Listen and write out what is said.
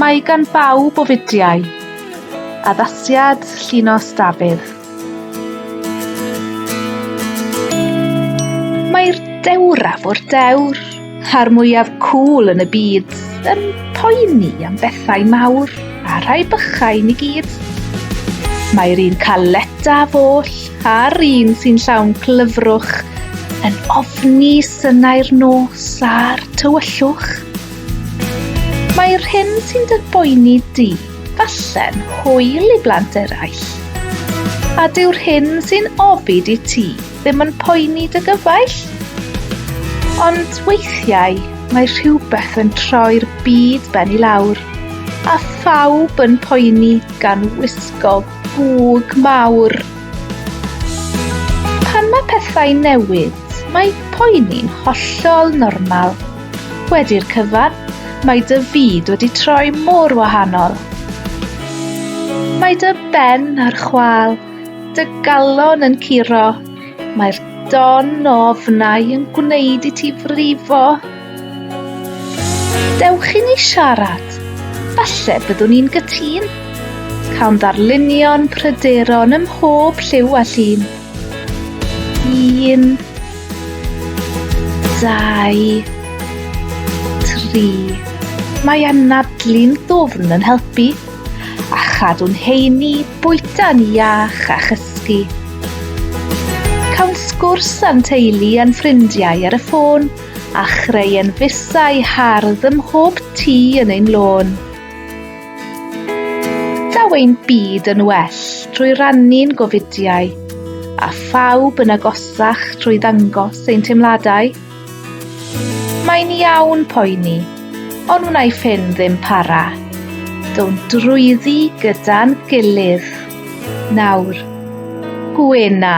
Mae gan bawb o fidiau. Addasiad Llinos Dafydd. Mae'r dewraf o'r dewr, a'r mwyaf cŵl yn y byd, yn poeni am bethau mawr a rhai bychain i gyd. Mae'r un caledaf oll A'r un sy'n llawn clyfrwch yn ofni synau'r nos a'r tywyllwch. Mae'r hyn sy'n dy boeni di, falle'n hwyl i blant eraill. A dyw'r hyn sy'n ofid i ti ddim yn poeni dy gyfaill. Ond weithiau mae rhywbeth yn troi'r byd ben i lawr, a phawb yn poeni gan wisgo Gwg mawr. Pan mae pethau'n newid, mae poeni'n hollol normal. Wedi'r cyfan, mae dy fyd wedi troi mor wahanol. Mae dy ben ar chwal, dy galon yn curo, mae'r don o ofnau yn gwneud i ti frifo Dewch i ni siarad. Falle byddwn ni'n gytun. Cawn ddarlunio'n pryderon ym mhob lliw a llun. Un, dau, tri. Mae anadlu'n ddwfn yn helpu a chadw'n heini bwyta'n iach a chysgu. Cawn sgwrs a'n teulu a'n ffrindiau ar y ffôn. a chreuen fusau hardd ym mhob tŷ yn ein lôn. Daw ein byd yn well trwy rannu'n gofidiau, a phawb yn agosach trwy ddangos ein teimladau. Mae'n iawn poeni, ond wnaeth hyn ddim para. Do'n drwyddi gyda'n gilydd. Nawr, gwena!